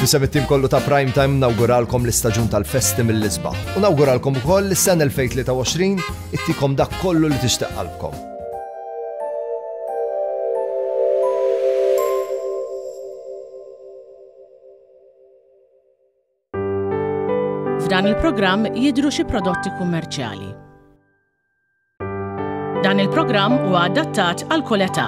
Nisem it-tim kollu ta' Prime Time nawguralkom l-istaġun tal-festi mill-isbaħ. U nawguralkom ukoll l-sen 2023 ittikom dak kollu li tixtieq qalbkom. F'dan il-programm jidru xi prodotti kummerċjali. Dan il-programm huwa adattat għal kull età.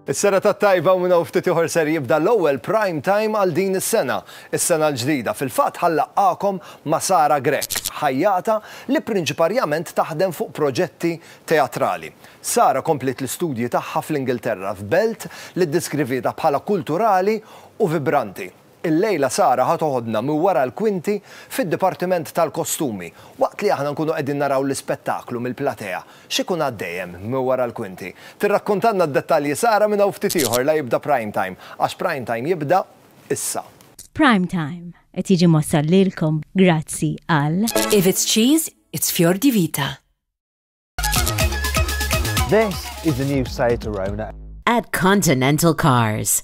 Is-sena tat-tajba u minn hawn ftit ieħor ser jibda l-ewwel prime time għal din is-sena, is-sena l-ġdida. Fil-fatt ħa nlaqqagħkom ma' Sara Grech, ħajjata li prinċiparjament taħdem fuq proġetti teatrali. Sara kompliet l-istudji tagħha fl-Ingilterra, f'belt li ddiskrivietha bħala kulturali u vibranti. Illejla Sara ħa toħodna minn wara l-kwinti fid-dipartiment tal-kostumi. Waqt li aħna nkunu qegħdin naraw l-ispettaklu mill-platea, x'ikun għaddej hemm minn wara l-kwinti? Tirrakkuntalna d-dettalji Sara minn hawn ftit ieħor la jibda Prime Time, għax Prime Time jibda issa. Prime Time qed jiġi mwassal lilkom grazzi għal. If it's cheese, it's fior di vita. This is the new Seat Arona. At Continental Cars.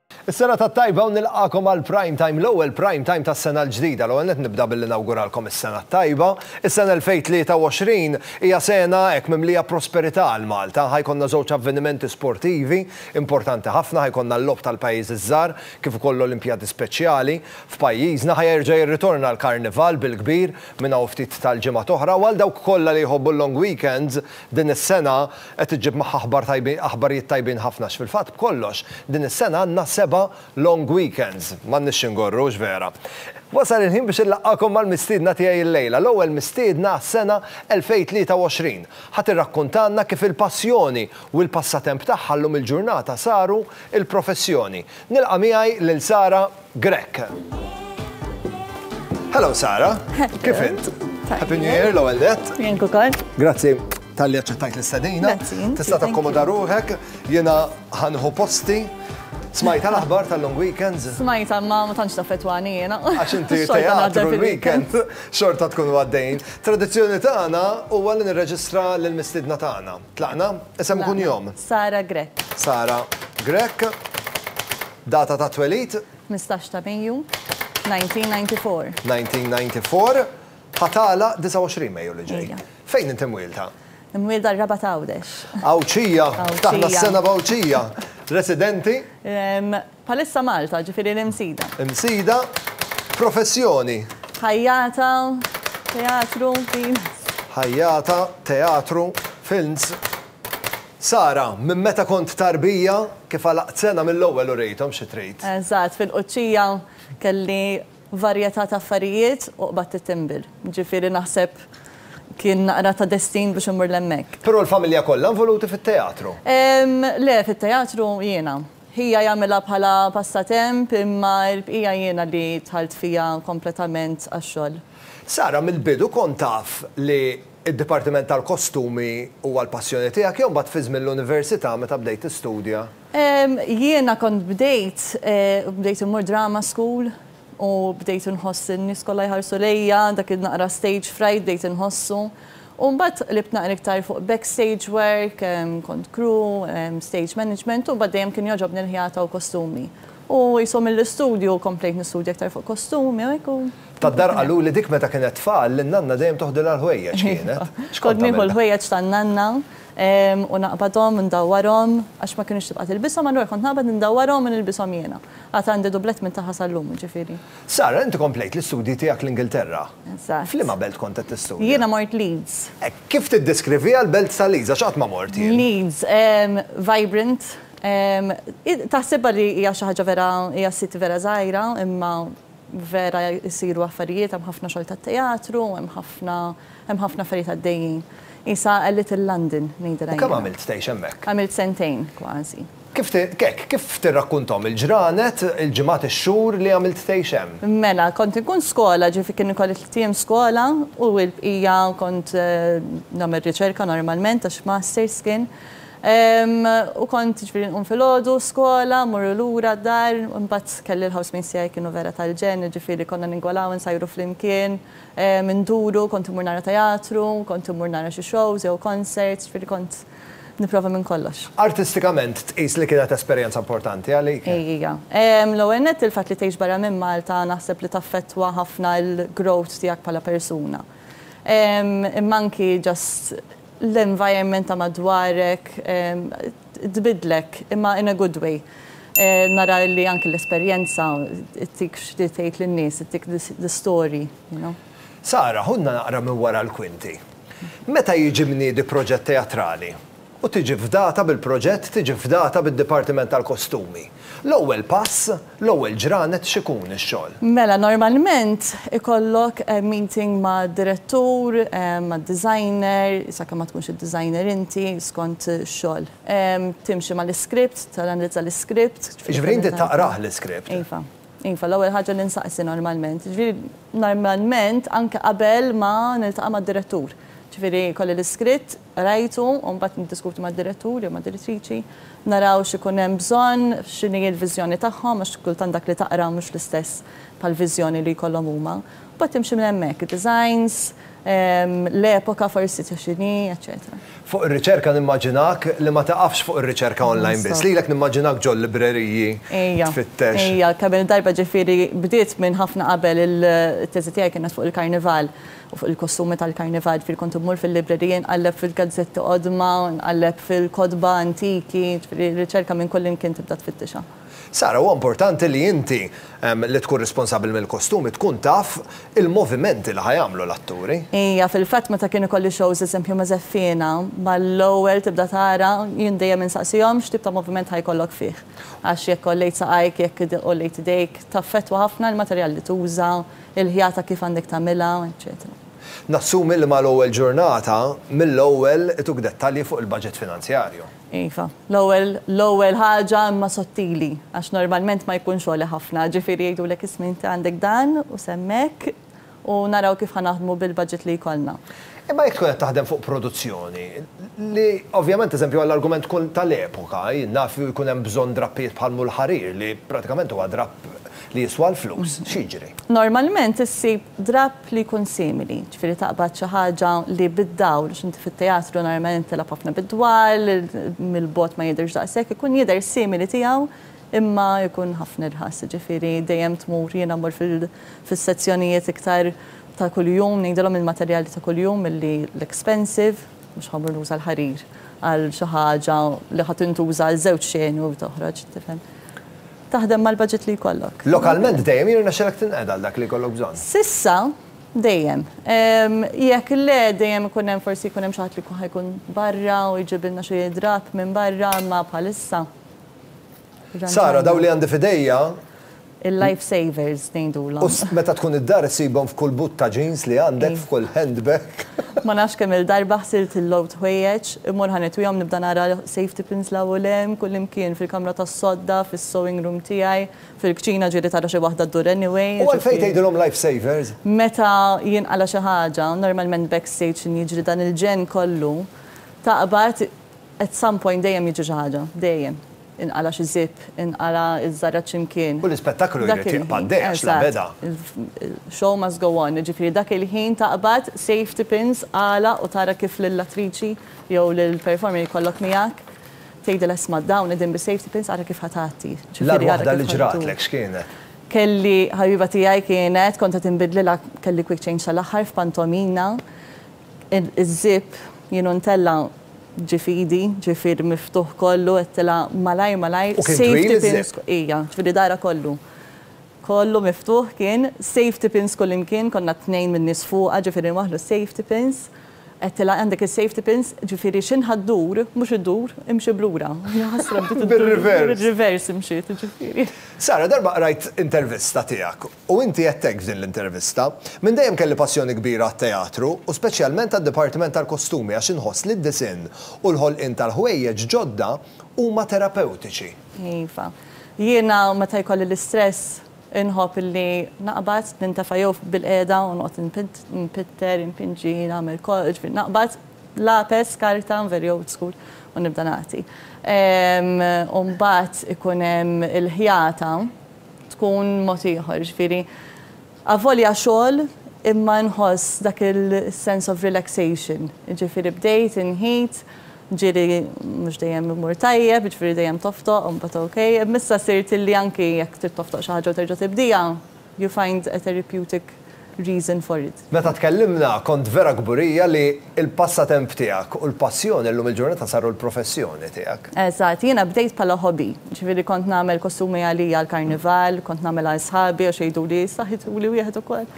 Is-serata t-tajba u nilqagħkom għal Prime Time, l-ewwel Prime Time tas-sena l-ġdida. L-ewwel nett nibda billi nawguralkom is-sena t-tajba. Is-sena 2023 hija sena hekk mimlija prosperità għal Malta. Ħa jkollna żewġ avvenimenti sportivi importanti ħafna, ħa jkollna l-Logħob tal-Pajjiżi ż-Żgħar kif ukoll l-Olimpjadi Speċjali. F'pajjiżna ħa jerġa' jirritorna l-Karnival bil-kbir minn hawn ftit tal-ġimgħat oħra u għal dawk kollha li jħobbu l-long weekends din is-sena Qed iġġib magħha aħbar tajbin, aħbarijiet tajbin ħafna għax fil-fatt b'kollox din is-sena għandna seba' long weekends. M'għandniex xi ngorru, hux vera? Wasal il-ħin biex inlaqqagħkom mal-mistiedna tiegħi llejla, l-ewwel mistiedna għas-sena 2023. Ħa tirrakkuntalna kif il-passjoni u l-passatemp tagħha llum il-ġurnata saru l-professjoni. Nilqa' miegħi lil Sara Grech. Hello Sara, kif int? Happy New Year l-ewwel net. Jien ukoll. Grazzi tal-li aċċettajt l-istadina. Tista' takkomoda ruħek, jiena ħanħu posti. Smajta l-aħbar tal-long weekends? Smajta, ma ma tantx taffetwani jena. Għax inti teatru l-weekend, xorta tkun għaddejn. Tradizzjoni tagħna u għallin nirreġistra l-mistidna tagħna. Tlaqna? Isem kun jom. Sara Grek. Sara Grek. Data tat-twelid. Tmistax ta' Mejju, 1994. 1994. Ħa tagħlaq 29 Mejju li ġej. Fejn inti mwielda? Imwielda r-Rabat Għawdex. Għawdxija. Ftaħna s-sena b'Għawdxija. Residenti? Bħalissa Malta, ġifieri l-Imsida. Imsida. Professjoni? Ħajjata, teatru, films. Ħajjata, teatru, films. Sara, Minn meta kont tarbija, kif għalaqt sena mill-ewwel u rejthom xi trid. Eżatt, fil-quċċija kelli varjetà ta' affarijiet u qbadt it-timber. Ġifieri naħseb kien naqra ta' destin biex immur 'l hemmhekk. Però l-familja kollha involuti fit-teatru? Le, fit-teatru jiena. Ħija jagħmilha bħala passatemp imma l-bqija jiena li dħalt fiha kompletament għax-xogħol. Sara, Mill-bidu kont taf li Id-Dipartiment tal-Kostumi huwa l-passjoni tiegħek jew mbagħad fi żmien l-università meta bdejt tistudja? Jiena kont bdejt bdejt immur drama school u bdejt inħoss in-nies kollha jħarsu lejja, dak in-naqra stage fright bdejt inħossu. U mbagħad qlibt naqra iktar fuq backstage work, kont crew, stage management u mbagħad dejjem kien jogħġobni l-ħjata u kostumi. U qishom mill-istudju komplejt nistudja iktar fuq kostumi u hekk u. Tad-dar qaluli dik meta kienet tfal li n-nanna dejjem toħdilha l-ħwejjeġ kienet. Kont nieħu l-ħwejjeġ tan-nanna u naqbadhom, indawwarhom, għax ma kinitx tibqa' tilbishom, allura kont naqbad indawwarhom u nilbishom jiena. Għad għandi dublett minn tagħha sal-lum, jiġifieri. Sara, inti komplejt l-istudji tiegħek l-Ingilterra. Eżatt. F'liema belt kont qed tistudja? Jiena mort Leeds. Hekk, kif tiddeskriviha l-belt ta' Leeds għax qatt ma mort jien? Leeds, vibrant, taħsibha li hija xi ħaġa vera, hija city vera żgħira, imma Vera jsiru affarijiet, hemm ħafna xogħol ta' teatru, hemm ħafna, hemm ħafna affarijiet għaddejjin. Qisha a little London, ngħidilha jiena. U kemm għamilt tgħix hemmhekk? Għamilt sentejn kważi. Kif ti, hekk, kif tirrakkunthom il-ġranet, il-ġimgħat, ix-xhur li għamilt tgħix hemm? Mela, kont inkun skola, ġifi kien ikolli tliet ijiem skola u l-bqija kont nagħmel riċerka normalment għax masters kien. U kont jiġifieri nqum filgħodu, skola, mmorru lura d-dar, imbagħad kelli l-housemates tiegħi kienu vera tal-ġenn, jiġifieri konna ningolaw, insajru flimkien, induru, kont immur nara teatru, kont immur nara xi shows jew concerts, jiġifieri kont nipprova minn kollox. Artistikament tqis li kienet esperjenza importanti għalik? Ija. L-ewwel nett il-fatt li tgħix barra minn Malta naħseb li taffettwa ħafna l-growth tiegħek bħala persuna. Imma anki just l-environment ta' madwarek tbiddlek imma in a good way. Nara li anki l-esperjenza ttik x'trid tgħid lin-nies, ttik the story, you know. Sara, ħudna naqra minn wara l-kwinti. Meta jiġi mniedi proġett teatrali u tiġi fdata bil-proġett tiġi fdata bid-dipartiment tal-kostumi. L-ewwel pass, l-ewwel ġranet x'ikun ix-xogħol? Mela normalment ikollok meeting mad-direttur, mad-designer, sakemm ma tkunx id-designer inti, skont ix-xogħol. Timxi mal-iskript, tanalizza l-iskript. Jiġifieri inti taqrah l-iskript? Iva. Iva, l-ewwel ħaġa li nsaqsi normalment. Jiġifieri normalment anke qabel ma niltaqa' mad-direttur. Jiġifieri jkolli l-iskritt, qrajtu u mbagħad niddiskuti mad-direttur jew mad-direttriċi, naraw x'ikun hemm bżonn, x'inhi l-viżjoni tagħhom għax kultant dak li taqra mhux l-istess bħall-viżjoni li jkollhom huma. Mbagħad timxi minn hemmhekk, id-designs, l-epoka forsi ta' x'inhi, eċċetera. Fuq ir-riċerka nimmaġinak li ma taqafx fuq ir-riċerka online biss. Lilek nimmaġinak ġol-libreriji tfittex. Ejja, ejja, kemm il-darba ġifieri bdiet minn ħafna qabel it-teżi tiegħi kienet fuq il-Karnival u fuq il-kostumi tal-Karnival, ġifieri kont immur fil-librerija nqalleb fil-gazzetti qodma, nqalleb fil-kotba antiki, ġifieri r-riċerka minn kullimkien tibda tfittixha. Sara, huwa importanti li inti, li tkun responsabbli mill-kostumi, tkun taf il-movimenti li ħa jagħmlu l-atturi. Ija, fil-fatt meta kien ikolli shows eżempju ma' Żeffiena, mal-ewwel tibda tara, jien dejjem insaqsihom x'tip ta' moviment ħa jkollok fih. Għax jekk għollejt saqajk, jekk għollejt idejk, taffettwa ħafna l-materjal li tuża, il-ħjata kif għandek tagħmilha, eċċetera. Nassumi li mal-ewwel ġurnata, mill-ewwel ituk dettalji fuq il-baġit finanzjarju. Iva, l-ewwel, l-ewwel ħaġa imma sottili, għax normalment ma jkunx għoli ħafna, ġifieri jgħidulek isma' inti għandek dan u semm hekk u naraw kif ħa naħdmu bil-budget li jkollna. Imma jekk tkun qed taħdem fuq produzzjoni, li ovvjament eżempju għall-argument tkun tal-epoka, jien naf jkun hemm bżonn drappijiet bħal Mull Ħarir li pratikament huwa drapp li jiswa l-flus, x'jiġri? Normalment issib drapp Li jkun simili, ġifieri taqbad xi ħaġa li bid-dawl, għax inti fit-teatru normalment tilgħab ħafna bid-dwal, mill-bogħod ma jidhirx daqshekk, ikun jidher simili tiegħu imma jkun ħafna irħas, ġifieri dejjem tmur, jiena mmur fis-sezzjonijiet iktar ta' kuljum, ngħidilhom il-materjali ta' kuljum milli l-expensive, mhux ħa mmur nuża l-ħarir għal xi ħaġa li ħa tintuża għal żewġ xeni u toħroġ, tifhem. Taħdem mal-baġit li jkollok. Lokalment dejjem jirnexxilek tinqeda għal dak li jkollok bżonn? S'issa, dejjem. Jekk le, dejjem ikun hemm forsi jkun hemm xi ħadd li jkun ħa jkun barra u jġibilna xi drapp minn barra, imma bħalissa. Sara, dawn li għandi f'idejja. Il-life savers ngħidulhom. U meta tkun id-dar issibhom f'kull but ta' jeans li għandek, f'kull handbag. Ma nafx kemm-il darba ħsilt il-logħob t'ħwejjeġ, immur ħa nitwihom nibda nara safety pins 'l hawn u 'l hemm, kullimkien, fil-kamra tas-sodda, fis-sewing room tiegħi, fil-kċina ġieli tara xi waħda ddur anyway, ġifieri. U għalfejn tgħidilhom life savers? Meta jinqala' xi ħaġa, normalment backstage x'inhi jiġri dan il-ġenn kollu, taqbad at some point dejjem jiġri xi ħaġa, dejjem. Inqala' xi zipp, inqala' ż-żarra x'imkien. U l-ispettaklu jrid jibqa' għaddej għax la beda. Show must go on, jiġifieri dak il-ħin taqbad safety pins għala u tara kif lill-attriċi jew lill-performer li jkollok miegħek tgħidilha isma' dawn qegħdin bis-safety pins ara kif ħa tgħatti. L-agħar waħda li ġratlek x'kienet? Kelli ħabiba tiegħi kienet kont qed inbidlilha kelli quick change tal-aħħar f'pantomina Iż-żip jienu ntella' ġie f'idi, ġifieri miftuħ kollu, għedtilha malajr malajr, U kien twil safety pins iż-żip? ku-, ija, ġifieri dahrha kollu, kollu miftuħ kien, safety pins kullimkien, konna t-tnejn min-nies fuqha, ġifieri nwaħħlu s-safety pins, għedtilha għandek is-safety pins, ġifieri x'inhu ħa ddur, mhux iddur, imxi b'lura. Jaħasra bdiet iddur, bir-reverse imxiet, ġifieri. Sara, darba qrajt intervista tiegħek U inti għedt hekk f'din l-intervista. Minn dejjem kelli passjoni kbira għat-teatru, u speċjalment għad-dipartiment tal-kostumi għax inħoss li d-disinn u l-ħolqien tal-ħwejjeġ ġodda huma terapewtiċi. Iva. Jiena meta jkolli l-istress inħobb li naqbad, nintefa' jew bilqiegħda u noqgħod npitter, inpinġi, nagħmel kollox, ġifieri naqbad lapes, karta, I'm very old school, u nibda nagħti. U mbagħad ikun hemm il-ħjata. tkun mod ieħor, jiġifieri avolja xogħol imma inħoss dak il-sense of relaxation, jiġifieri bdejt inheat, ġiri mhux dejjem imur tajjeb, jiġifieri dejjem toftoq u mbagħad ok, imma issa sirt illi anki jekk trid toftoq xi ħaġa u terġa' tibdieha, you find a therapeutic reason for it. Meta tkellimna kont vera kburija li l-passatemp tiegħek u l-passjoni llum il-ġurnata saru l-professjoni tiegħek. Eżatt, jiena bdejt bħala hobby. Ġifieri kont nagħmel kostumi għalija għall-karnival, kont nagħmel għal sħabi għax jgħiduli issa ħituli wieħed ukoll.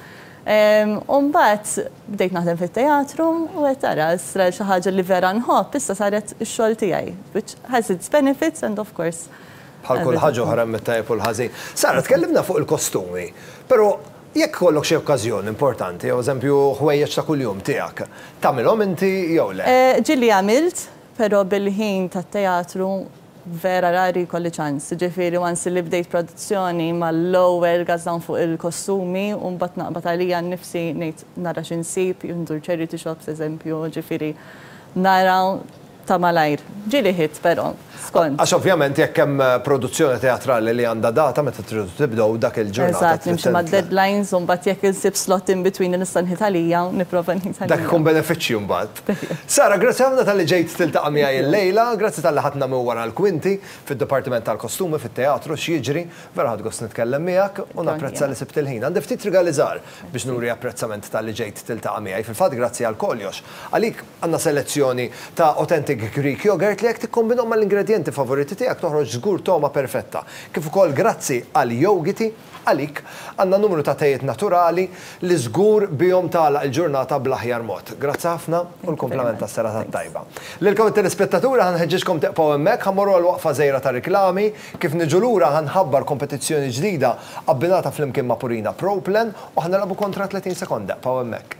U mbagħad bdejt naħdem fit-teatru u qed tara issa xi ħaġa li vera nħobb issa saret ix-xogħol tiegħi which has its benefits and of course. Bħal kull ħaġa oħra hemm it-tajjeb u l-ħażin. Sara tkellimna fuq il-kostumi, però Jekk ikollok xi okkażjoni importanti, jew eżempju ħwejjeġ ta' kuljum tiegħek, tagħmilhom inti jew le? Ġieli għamilt, però bil-ħin tat-teatru vera rari jkolli ċans. Jiġifieri once li bdejt produzzjoni mal-ewwel gass dawn fuq il-kostumi u mbagħad naqbad għalija nnifsi ngħid nara xi nsib, jew ndur charity shops eżempju, jiġifieri nara Ta' malajr. Ġieli ħidt però, skont. Għax ovvjament jekk hemm produzzjoni teatrali li għandha data meta tridu tibdew, dak il-ġurnata trid. Eżatt, nimxi mad-deadlines u mbagħad jekk insib slot in between li nista' nħit għalija, nipprova nħit għalija. Dak ikun benefiċċju mbagħad. Sara, grazzi ħafna talli ġejt tiltaqa' miegħi llejla, grazzi talli ħadtna minn wara l-kwinti, fid-dipartiment tal-kostumi, fit-teatru, x'jiġri. Vera ħadt gost nitkellem miegħek u napprezza li sibt il-ħin. Għandi ftit rigali żgħar biex nuri apprezzament talli ġejt tiltaqa' miegħi. Fil-fatt grazzi għal koljox. Għalik. Għandna selezzjoni ta' authentic Greek yogurt li jekk tikkombinhom mal-ingredjenti favoriti tiegħek toħroġ żgur togħma perfetta. Kif ukoll grazzi għal Yogiti, għalik, għandna numru ta' tejiet naturali li żgur bihom tagħlaq il-ġurnata bl-aħjar mod. Grazzi ħafna u l-kumplament tas-serata t-tajba. Lilkom it-telespettaturi ħa nħeġġiġkom tibqgħu hemmhekk, ħa mmorru għal waqfa żgħira ta' riklami. Kif niġu lura ħa nħabbar kompetizzjoni ġdida abbinata flimkien ma' Purina Pro Plan u ħa nilgħabu kontra 30 sekonda. Ibqgħu hemmhekk.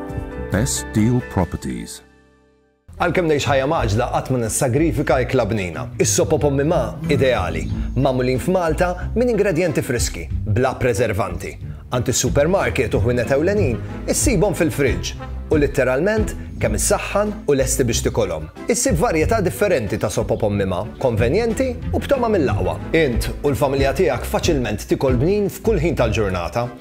Best Deal Properties. Għalkemm ngħix ħajja mgħaġġla qatt ma nissagrifika ikla bnina. Is-sop u pommi ma' ideali, magħmulin f'Malta minn ingredjenti friski, bla preservanti. Għand is-supermarket u ħwienet ewlenin issibhom fil-friġġ u litteralment kemm issaħħan u lesti biex tikolhom. Issib varjetà differenti ta' sop u pommi ma', konvenjenti u b'togħma mill-aqwa. Int u l-familja tiegħek faċilment tikol bnin f'kull ħin tal-ġurnata.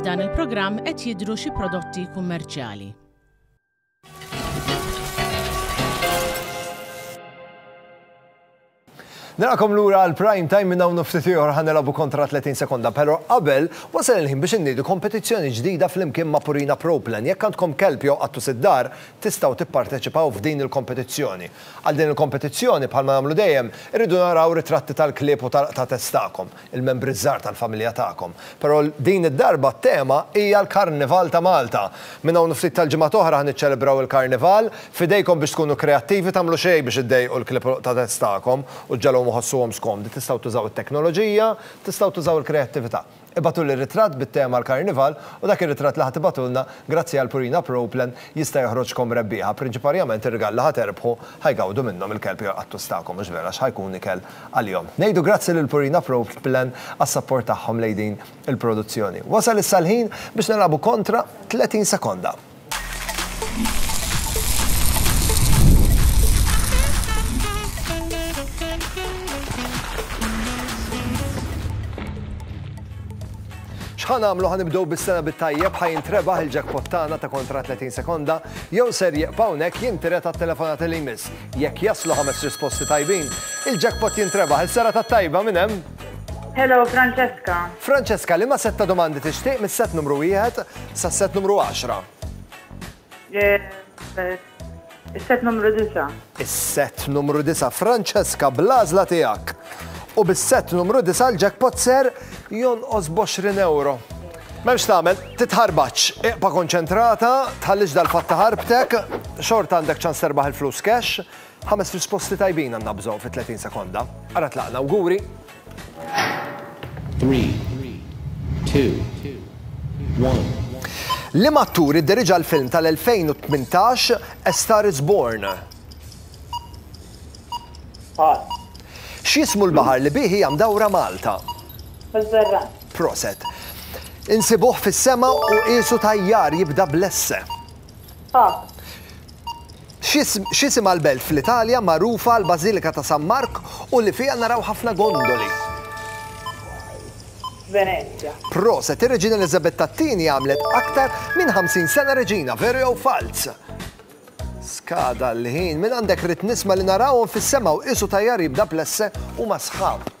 F'dan il-programm qed jidhru xi prodotti kummerċjali. Narakom lura għal prime time minn hawn ftit ieħor ħanelabu kontra 30 sekonda, però qabel wasal il-ħin biex innidu kompetizzjoni ġdida flimkien ma' Purina Proplan. Jekk għandkom kelb jew qattu sid-dar, tistgħu tipparteċipaw f'din il-kompetizzjoni. Għal din il-kompetizzjoni bħalma nagħmlu dejjem, irridu naraw ritratti tal-klieb u tal-qtates tagħkom. il-membri ż-żgħar tal-familja tagħkom. Però din id-darba t-tema hija l-Karnival ta' Malta. Minn hawn u ftit tal-ġimgħat oħra ħa niċċelebraw il-Karnival. F'idejkom biex tkunu kreattivi, tagħmlu xejn biex iddejqu l-klieb u l-qtadez tagħkom u ġġagħluhom iħossuhom skomdi. Tistgħu tużaw it-teknoloġija, tistgħu tużaw il-kreattività. Ibagħtuli ritratt bit-tema l-Karnival u dak ir-ritratt li ħa tibagħtulna, grazzi għal Purina Pro Plan, jista' joħroġkom rebbieħa. Prinċiparjament ir-rigali li ħa terbħu ħa jgawdu minnhom il-kelb jew il-qattus tagħkom, mhux vera, għax ħa jkun ikel għalihom. Ngħidu grazzi lil Purina Pro Plan għas-sapport tagħhom lejn din il-produzzjoni. Wasal issa l-ħin biex nilagħbu kontra 30 sekonda. X'ħa nagħmlu ħa nibdew bis-sena bit-tajjeb ħa jintrebaħ il-jackpot tagħna ta' kontra 30 sekonda jew ser jibqa' hawnhekk jintiret għat-telefonat li jmiss. Jekk jaslu ħames risposti tajbin, il-jackpot jintrebaħ. Il-sera tat-tajba minn hemm? Hello, Francesca. Francesca, liema set ta' domandi tixtieq mis-set numru wieħed sas-set numru 10? Eh, eh, Is-set numru 9. Is-set numru 9, Francesca, bl-għażla tiegħek. U bis-set numru 9 l-jackpot ser jonqos b'20 euro. M'hemm x'tagħmel, titħarbaċ. Iqpa' konċentrata, tħallix dal-fatt iħarbtek, xorta għandek ċans terbaħ il-flus cash. Ħames risposti tajbin għandna bżonn fi 30 sekonda. Ara tlaqna, awguri! Three, two, one. Liema attur idderiġa l-film tal-2018 A Star Is Born? Pass. X'jismu l-baħar li bih hija mdawra Malta? Mediterran. Proset. Insibuh fis-sema u qiesu tajjar jibda bl-esse. A. X'isimha l-belt fl-Italja magħrufa għall-Bażilika ta' San Mark u li fiha naraw ħafna gondoli? Venezja. Proset. Ir-Reġina Eliżabetta t-Tieni għamlet aktar minn 50 sena reġina, veru jew falz? Skada l-ħin. Minn għandek rrid nisma' li narawhom fis-sema u qiesu tajjar jibda bl-esse huma sħab.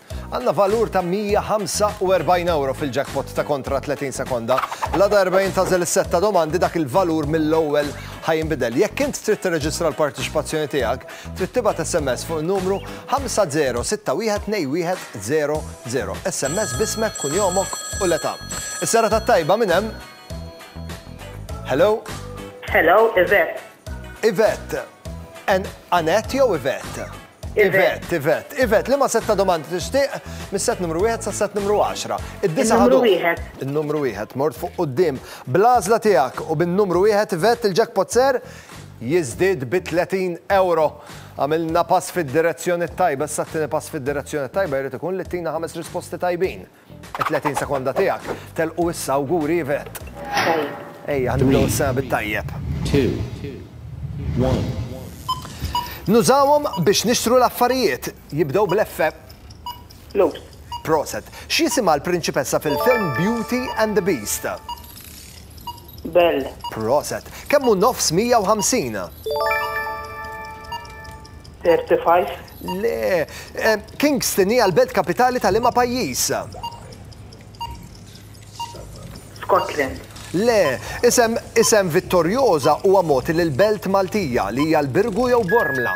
Għandna valur ta' €145 fil-jackpot ta' kontra 30 sekonda. La darba jintazel is-sett ta' domandi dak il-valur mill-ewwel ħa jinbidel. Jekk int trid tirreġistra l-parteċipazzjoni tiegħek, trid tibgħat SMS fuq in-numru 50612100. SMS b'ismek, kunjomok u l-età. Is-serata t-tajba minn hemm. Hello? Hello, Yvette. Yvette. Anette jew Yvette? Ivet, Ivet, Ivet, li ma set ta' domandi tixtieq mis-set numru 1 sa' set numru 10. Id-disa ħadu. Il-numru 1, mort fuq qudiem. Bl-għażla tiegħek u bin-numru 1 Ivet il-jackpot ser jiżdied bi 30 euro. Għamilna pass fid-direzzjoni tajba, s-sattini pass fid-direzzjoni tajba jrid ikun li tina ħames risposti tajbin. 30 sekonda tiegħek telqu issa awguri Yvette. Ejja, nibdew is-sena bit-tajjeb. Nużawhom biex nixtru l-affarijiet, jibdew bl-F. Flus. Proset. X'jisimha l-prinċipessa fil-film Beauty and the Beast? Belle. Proset. Kemm hu nofs 150? 35. Le, Kingston hija l-belt kapitali ta' liema pajjiż? Scotland. Le, isem isem Vittorjoża huwa mogħti lil belt Maltija li hija l-Birgu jew Bormla?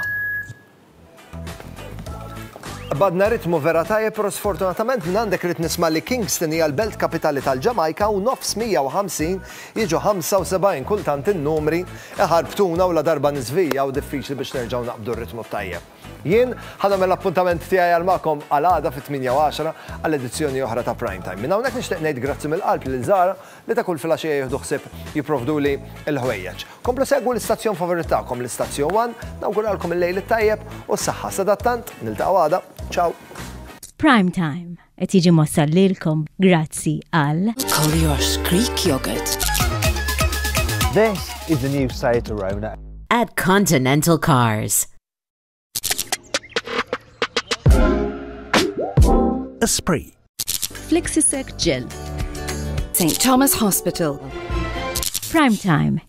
Qbadna ritmu vera tajjeb però sfortunatament minn għandek rrid nisma' li Kingston hija l-belt kapitali tal-Ġamajka u nofs 150 Jiġu 75 kultant in-numri iħarbtuna u la darba niżvija u diffiċli biex nerġgħu naqbdu r-ritmu t-tajjeb. Jien ħa nagħmel l-appuntament tiegħi għal magħkom għal għada fit-tmienja u għaxra għal edizzjoni oħra ta' Prime Time. Minn hawnhekk nixtieq ngħid grazzi mill-qalb lil Zahra li ta' kull filgħaxija jieħdu ħsieb jipprovduli l-ħwejjeġ. Komplu segwu l-istazzjon favorit tagħkom, l-Istazzjon One, nawguralkom il-lejl it-tajjeb u s-saħħa. Sadattant, niltaqgħu għada. Ciao! Prime Time. Qed jiġi mossal lilkom grazzi għal Collier's Creek Yogurt. This is the new Seat Arona. At Continental Cars. Esprit. Flexisec Gel. St. Thomas Hospital. Prime Time